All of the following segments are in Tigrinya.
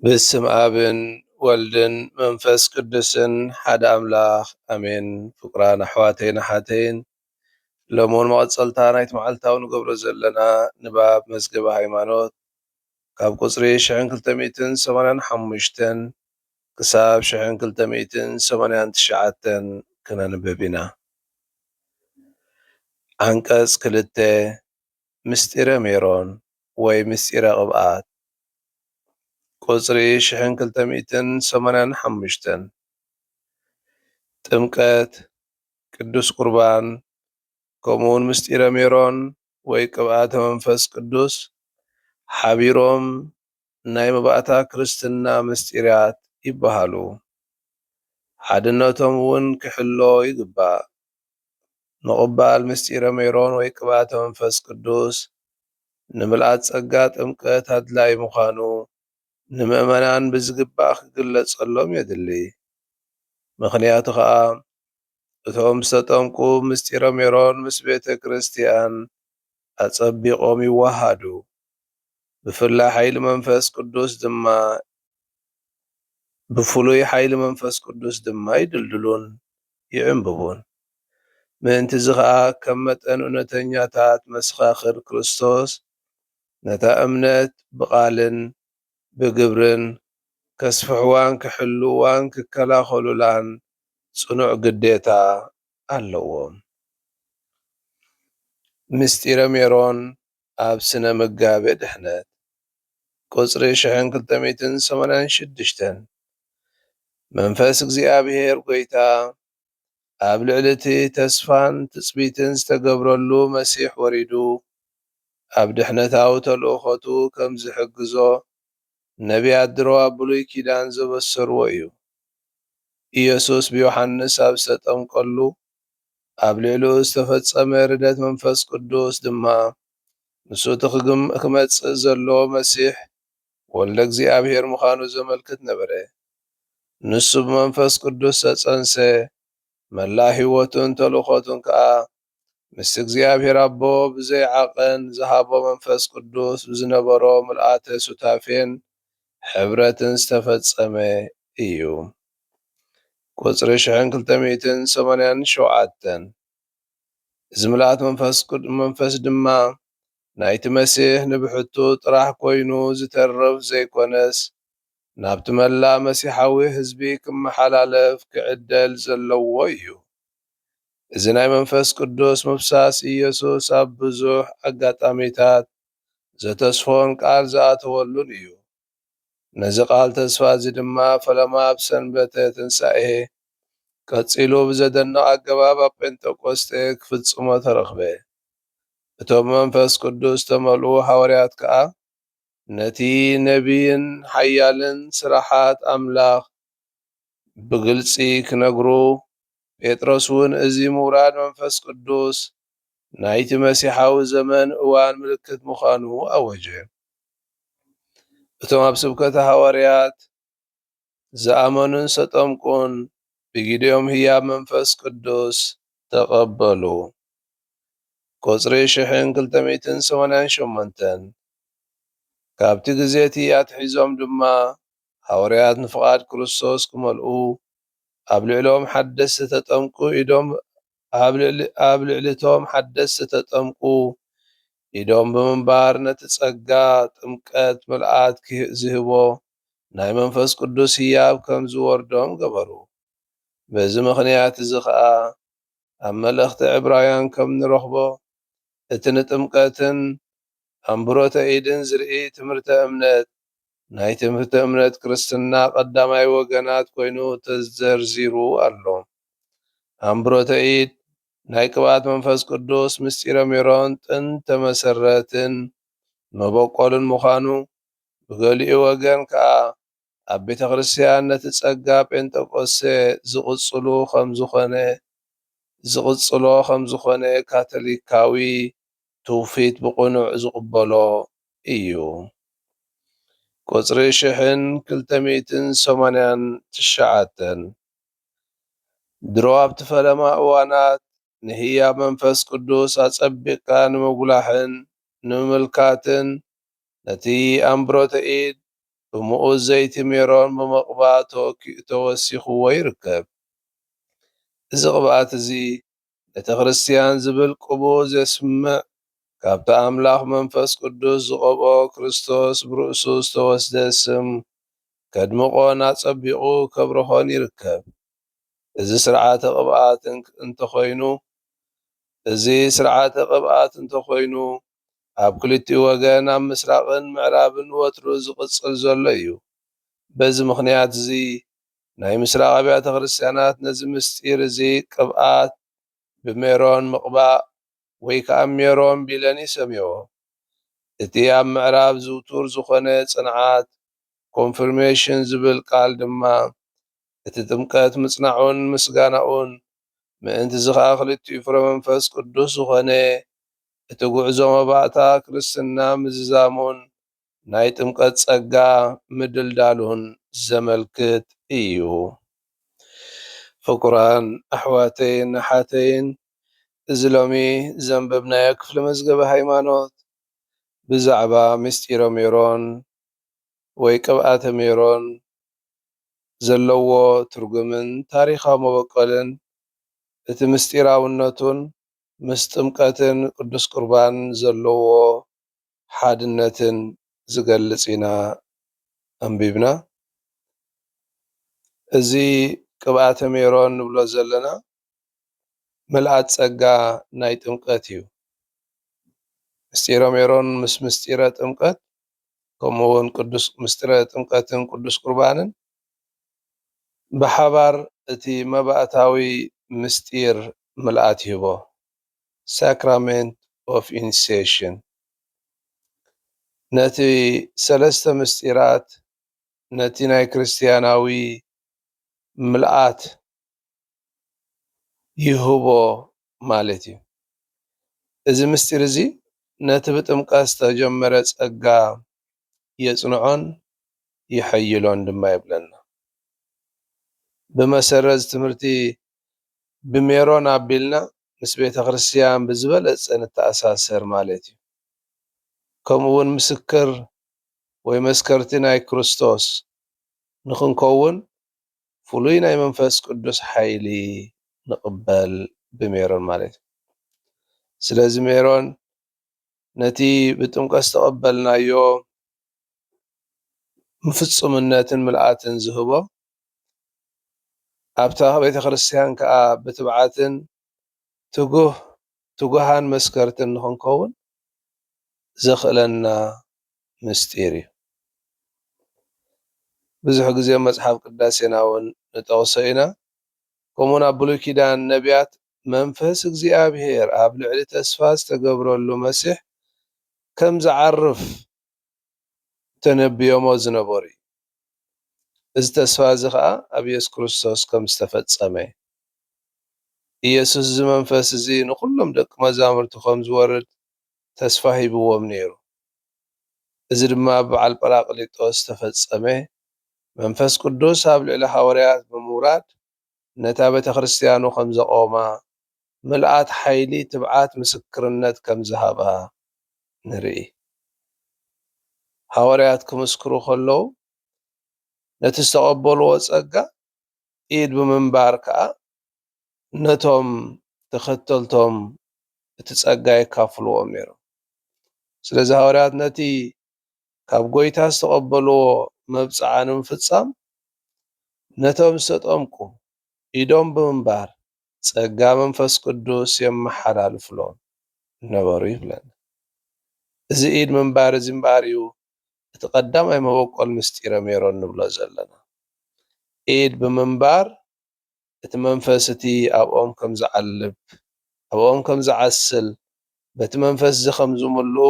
ብስም ኣብን ወልድን መንፈስ ቅዱስን ሓደ ኣምላኽ ኣሜን። ፍቁራን ኣሕዋተይን ኣሓተይን ሎምውን መቐጸልታ ናይቲ መዓልታዊ ንገብሮ ዘለና ንባብ መዝገበ ሃይማኖት ካብ ቁጽሪ ሽሕን ክልተ ሚእትን ሰማንያን ሓሙሽተን ክሳብ ሽሕን ክልተ ሚእትን ሰማንያን ትሽዓተን ክነንብብ ኢና። ዓንቀጽ ክልተ ምስጢረ ሜሮን ወይ ምስጢረ ቅብኣት ቁጽሪ ሽሕን ክልተ ሚእትን ሰማንያን ሓሙሽተን ጥምቀት ቅዱስ ቍርባን ከምኡውን ምሥጢረ ሜሮን ወይ ቅብኣተ መንፈስ ቅዱስ ኃቢሮም ናይ መባእታ ክርስትና ምሥጢራት ይበሃሉ። ሓድነቶም እውን ኪሕሎ ይግባእ። ምቕባል ምሥጢረ ሜሮን ወይ ቅብኣተ መንፈስ ቅዱስ ንምልኣት ጸጋ ጥምቀት ኣድላዪ ምዃኑ ንምእመናን ብዝግባእ ክግለጸሎም የድሊ። ምኽንያቱ ኸኣ እቶም ዝተጠምቁ ምስጢረ ሜሮን ምስ ቤተ ክርስቲያን ኣጸቢቖም ይወሃሃዱ፣ ብፍላይ ሓይሊ መንፈስ ቅዱስ ድማ ብፍሉይ ሓይሊ መንፈስ ቅዱስ ድማ ይድልድሉን ይዕምብቡን። ምእንት'ዚ ኸኣ ከም መጠን እውነተኛታት መሰኻኽር ክርስቶስ ነታ እምነት ብቓልን ብግብርን ከስፍሕዋን ክሕልውዋን ክከላኸሉላን ጽኑዕ ግዴታ ኣለዎም። ምስጢረ ሜሮን ኣብ ስነ ምጋቤ ድሕነት ቁጽሪ ሽሕን ክልተ ሚእትን ሰማንያን ሽዱሽተን መንፈስ እግዚኣብሔር ጎይታ ኣብ ልዕሊ እቲ ተስፋን ትጽቢትን ዝተገብረሉ መሲሕ ወሪዱ ኣብ ድሕነታዊ ተልእኾቱ ከም ዝሕግዞ ነብያት ድሮ ኣብ ብሉይ ኪዳን ዘበሰርዎ እዩ። ኢየሱስ ብዮሓንስ ኣብ ዝተጠምቀሉ ኣብ ልዕሊኡ ዝተፈጸመ ርደት መንፈስ ቅዱስ ድማ ንሱ እቲ ክመጽእ ዘለዎ መሲሕ ወልደ እግዚኣብሔር ምዃኑ ዘመልክት ነበረ። ንሱ ብመንፈስ ቅዱስ ዝተጸንሰ፣ መላእ ሕይወቱን ተልእኮቱን ከኣ ምስ እግዚኣብሔር ኣቦ ብዘይ ዓቐን ዝሃቦ መንፈስ ቅዱስ ብዝነበሮ ምልኣተ ሱታፌን ሕብረትን ዝተፈጸመ እዩ። ቁጽሪ ሽሕን ክልተ ሚእትን ሰማንያን ሸውዓተን እዚ ምልኣት መንፈስ ድማ ናይቲ መሲሕ ንብሕቱ ጥራሕ ኮይኑ ዝተርፍ ዘይኮነስ ናብቲ መላእ መሲሓዊ ህዝቢ ክመሓላለፍ ክዕደል ዘለዎ እዩ። እዚ ናይ መንፈስ ቅዱስ ምፍሳስ ኢየሱስ ኣብ ብዙሕ ኣጋጣሚታት ዘተስፎን ቃል ዝኣተወሉን እዩ። ነዚ ቃል ተስፋ እዚ ድማ ፈለማ ኣብ ሰንበተ ትንሳኤ፣ ቀጺሉ ብዘደንቕ ኣገባብ ኣብ ጴንጠቆስጤ ክፍጽሞ ተረኽበ። እቶም ብመንፈስ ቅዱስ ዝተመልኡ ሃዋርያት ከኣ ነቲ ነብይን ሓያልን ስራሓት ኣምላኽ ብግልጺ ክነግሩ፣ ጴጥሮስውን እዚ ምውራድ መንፈስ ቅዱስ ናይቲ መሲሓዊ ዘመን እዋን ምልክት ምዃኑ ኣወጀ። እቶም ኣብ ስብከተ ሃዋርያት ዝኣመኑን ዝተጠምቁን ብጊዴኦም ህያብ መንፈስ ቅዱስ ተቐበሉ። ቁጽሪ ሽሕን ክልተ ሚእትን ሰማንያን ሸሞንተን። ካብቲ ግዜቲ ኣትሒዞም ድማ ሃወርያት ንፍቓድ ክርስቶስ ክመልኡ ኣብ ልዕልኦም ሓደስቲ ተጠምቁ ኢዶም ኣብ ልዕሊ እቶም ሓደስቲ ተጠምቁ ኢዶም ብምንባር ነቲ ጸጋ ጥምቀት ምልኣት ዚህቦ ናይ መንፈስ ቅዱስ ህያብ ከም ዚወርዶም ገበሩ። በዚ ምኽንያት እዚ ኸኣ ኣብ መልእኽቲ ዕብራውያን ከም ንረኽቦ እቲ ንጥምቀትን ኣምብሮተ ኢድን ዝርኢ ትምህርተ እምነት ናይ ትምህርተ እምነት ክርስትና ቀዳማይ ወገናት ኮይኑ ተዘርዚሩ ኣሎ። ኣምብሮተ ኢድ፣ ናይ ቅብኣት መንፈስ ቅዱስ፣ ምስጢረ ሜሮን፣ ጥንተ መሰረትን መበቆልን ምዃኑ፣ ብገሊኡ ወገን ከኣ ኣብ ቤተክርስትያን ነቲ ጸጋ ጴንጠቆስቴ ዝቕጽሉ ከምዝኾነ ዝቕጽሎ ከምዝኾነ ካቶሊካዊ ትውፊት ብቕኑዕ ዝቕበሎ እዩ። ቁጽሪ ሽሕን ክልተ ሚእትን ሰማንያን ትሽዓተን ድሮ ኣብቲ ፈለማ እዋናት ንህያብ መንፈስ ቅዱስ ኣጸቢቕካ ንምጉላሕን ንምምልካትን ነቲ ኣንብሮተ ኢድ ብምኡዝ ዘይቲ ሜሮን ብምቕባእ ተወኪኡ ተወሲኽዎ ይርከብ። እዚ ቅብኣት'ዚ ቤተ ክርስቲያን ዝብል ቅቡእ ዜስምዕ ካብቲ ኣምላኽ መንፈስ ቅዱስ ዝቐብኦ ክርስቶስ ብርእሱ ዝተወስደ ስም ከድምቖን ኣጸቢቑ ከብርሆን ይርከብ። እዚ ሥርዓተ ቅብኣት እንተኾይኑ እዚ ሥርዓተ ቅብኣት እንተኾይኑ ኣብ ክልቲኡ ወገን ኣብ ምስራቕን ምዕራብን ወትሩ ዝቕጽል ዘሎ ኢዩ። በዚ ምኽንያት እዚ ናይ ምስራቕ ኣብያተ ክርስትያናት ነዚ ምስጢር እዚ ቅብኣት ብሜሮን ምቕባእ ወይ ከኣ ሜሮን ቢለን ይሰምዮኦ። እቲ ኣብ ምዕራብ ዝውቱር ዝኾነ ጽንዓት፣ Confirmation፣ ዝብል ቃል ድማ እቲ ጥምቀት ምጽናዑን ምስጋናኡን ምእንት'ዚ ኸኣ ክልቲኡ ፍረ መንፈስ ቅዱስ ዝኾነ እቲ ጉዕዞ መባእታ ክርስትና ምዝዛሙን ናይ ጥምቀት ጸጋ ምድልዳሉን ዘመልክት እዩ። ፍቁራን ኣሕዋተይን ኣሓተይን እዚ ሎሚ ዘንበብናዮ ክፍሊ መዝገበ ሃይማኖት ብዛዕባ ምስጢረ ሜሮን ወይ ቅብኣተ ሜሮን ዘለዎ ትርጉምን ታሪኻዊ መበቆልን እቲ ምስጢራውነቱን ምስ ጥምቀትን ቅዱስ ቁርባን ዘለዎ ሓድነትን ዝገልጽ ኢና ኣንቢብና። እዚ ቅብኣተ ሜሮን ንብሎ ዘለና ምልኣት ጸጋ ናይ ጥምቀት እዩ። ምስጢረ ሜሮን ምስ ምስጢረ ጥምቀት ከምኡ እውን ቅዱስ ምሥጢረ ጥምቀትን ቅዱስ ቍርባንን ብሓባር እቲ መባእታዊ ምሥጢር ምልኣት ይህቦ፣ Sacrament of Initiation፣ ነቲ ሠለስተ ምሥጢራት ነቲ ናይ ክርስትያናዊ ምልኣት ይህቦ ማለት እዩ። እዚ ምስጢር እዚ ነቲ ብጥምቀት ዝተጀመረ ጸጋ የጽንዖን የሐይሎን ድማ ይብለና። ብመሰረት እዚ ትምህርቲ ብሜሮን ኣቢልና ምስ ቤተ ክርስቲያን ብዝበለጸ ንተኣሳሰር ማለት እዩ። ከምኡ እውን ምስክር ወይ መስከርቲ ናይ ክርስቶስ ንኽንከውን ፍሉይ ናይ መንፈስ ቅዱስ ሓይሊ ንቕበል ብሜሮን ማለት እዩ። ስለዚ ሜሮን ነቲ ብጥምቀት ዝተቐበልናዮ ፍጹምነትን ምልኣትን ዝህቦ ኣብታ ቤተ ክርስቲያን ከኣ ብትብዓትን ትጉህ ትጉሃን መስከርትን ንኽንከውን ዘኽእለና ምስጢር እዩ። ብዙሕ ግዜ ኣብ መጽሓፍ ቅዳሴና ውን ንጠቕሶ ኢና። ከምኡ ውን ኣብ ብሉይ ኪዳን ነብያት መንፈስ እግዚኣብሄር ኣብ ልዕሊ ተስፋ ዝተገብረሉ መሲሕ ከም ዝዓርፍ ተነብዮሞ ዝነበሩ እዩ። እዚ ተስፋ እዚ ኸኣ ኣብ የሱስ ክርስቶስ ከም ዝተፈጸመ እዩ። ኢየሱስ እዚ መንፈስ እዚ ንኹሎም ደቂ መዛሙርቱ ከም ዝወርድ ተስፋ ሂብዎም ነይሩ። እዚ ድማ ኣብ በዓል ጰራቅሊጦስ ዝተፈጸመ መንፈስ ቅዱስ ኣብ ልዕሊ ሃወርያት ብምውራድ ነታ ቤተክርስትያኑ ከም ዘቖማ፣ ምልኣት ሓይሊ ትብዓት ምስክርነት ከም ዝሃባ ንርኢ። ሃዋርያት ክምስክሩ ከለዉ ነቲ ዝተቐበልዎ ጸጋ ኢድ ብምንባር ከኣ ነቶም ተኸተልቶም እቲ ጸጋ የካፍልዎም ነይሮም። ስለዚ ሃዋርያት ነቲ ካብ ጐይታ ዝተቐበልዎ መብጽዓ ንምፍጻም ነቶም ዝተጠምቁ ኢዶም ብምንባር ጸጋ መንፈስ ቅዱስ የመሓላልፉሎም ነበሩ ይብለና። እዚ ኢድ ምንባር እዚ እምበኣር እዩ እቲ ቀዳማይ መበቈል ምስጢረ ሜሮን ንብሎ ዘለና። ኢድ ብምንባር እቲ መንፈስ እቲ ኣብኦም ከም ዝዓልብ፣ ኣብኦም ከም ዝዓስል፣ በቲ መንፈስ እዚ ከም ዝምልኡ፣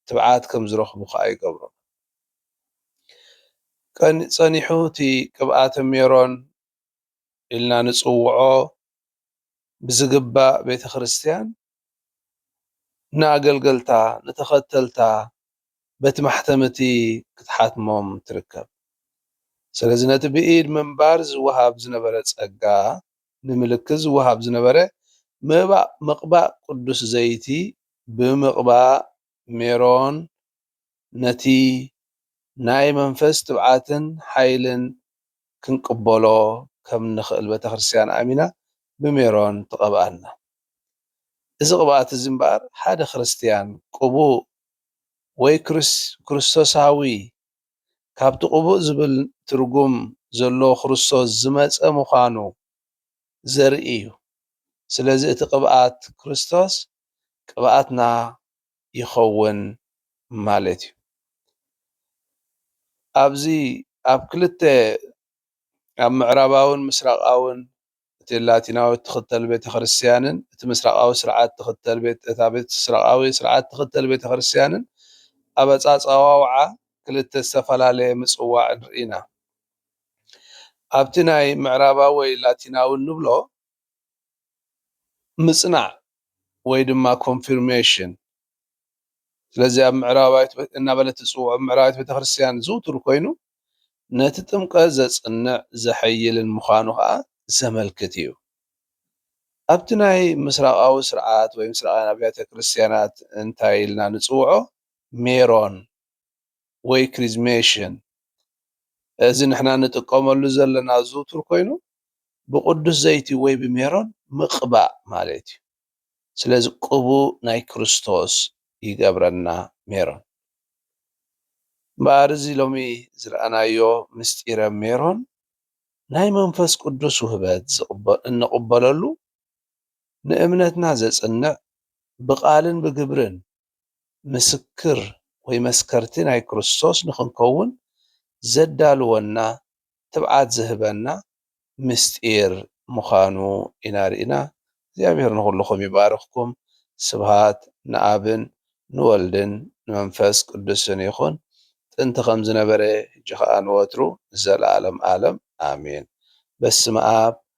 ትብዓት ከም ዝረኽቡ ከኣ ይገብሮም። ጸኒሑ እቲ ቅብኣተ ሜሮን ኢልና ንጽውዖ ብዝግባእ ቤተ ክርስቲያን ንኣገልገልታ፣ ንተኸተልታ በቲ ማሕተም እቲ ክትሓትሞም ትርከብ። ስለዚ ነቲ ብኢድ ምንባር ዝወሃብ ዝነበረ ጸጋ ንምልክት ዝወሃብ ዝነበረ ምባእ ምቕባእ ቅዱስ ዘይቲ ብምቕባእ ሜሮን ነቲ ናይ መንፈስ ትብዓትን ሓይልን ክንቅበሎ ከም እንኽእል ቤተክርስትያን ኣሚና ብሜሮን ትቐብኣና። እዚ ቅብኣት እዚ እምበኣር ሓደ ክርስትያን ቅቡእ ወይ ክርስቶሳዊ ካብቲ ቅቡእ ዝብል ትርጉም ዘለዎ ክርስቶስ ዝመጸ ምዃኑ ዘርኢ እዩ። ስለዚ እቲ ቅብኣት ክርስቶስ ቅብኣትና ይኸውን ማለት እዩ። ኣብዚ ኣብ ክልተ ኣብ ምዕራባውን ምስራቃውን እቲ ላቲናዊ እትኽተል ቤተክርስትያንን እቲ ምስራቃዊ ስርዓት ትኽተል እታ ምስራቃዊ ስርዓት ትኽተል ቤተክርስትያንን ኣብ ኣጻጻዋውዓ ክልተ ዝተፈላለየ ምጽዋዕ ንርኢና። ኣብቲ ናይ ምዕራባዊ ወይ ላቲናዊ እንብሎ ምጽናዕ ወይ ድማ ኮንፊርሜሽን ስለዚ ኣብ ምዕራባዊት እናበለት ትጽውዖ ምዕራባዊት ቤተክርስትያን ዝውቱር ኮይኑ ነቲ ጥምቀት ዘጽንዕ ዘሐይልን ምዃኑ ከዓ ዘመልክት እዩ። ኣብቲ ናይ ምስራቃዊ ስርዓት ወይ ምስራቃውያን ኣብያተ ክርስትያናት እንታይ ኢልና ንጽውዖ ሜሮን ወይ ክሪዝሜሽን እዚ ንሕና ንጥቀመሉ ዘለና ዝውቱር ኮይኑ ብቅዱስ ዘይቲ ወይ ብሜሮን ምቅባእ ማለት እዩ ስለዚ ቅቡእ ናይ ክርስቶስ ይገብረና ሜሮን እምበኣር እዚ ሎሚ ዝረኣናዮ ምስጢረ ሜሮን ናይ መንፈስ ቅዱስ ውህበት እንቅበለሉ ንእምነትና ዘጽንዕ ብቃልን ብግብርን ምስክር ወይ መስከርቲ ናይ ክርስቶስ ንኽንከውን ዘዳልወና ትብዓት ዝህበና ምስጢር ምኻኑ ኢና ርኢና እግዚኣብሔር ንኹልኹም ይባርኽኩም ስብሃት ንኣብን ንወልድን ንመንፈስ ቅዱስን ይኹን ጥንቲ ከም ዝነበረ ሕጂ ኸኣ ንወትሩ ንዘለዓለም ኣለም ኣሜን በስመኣብ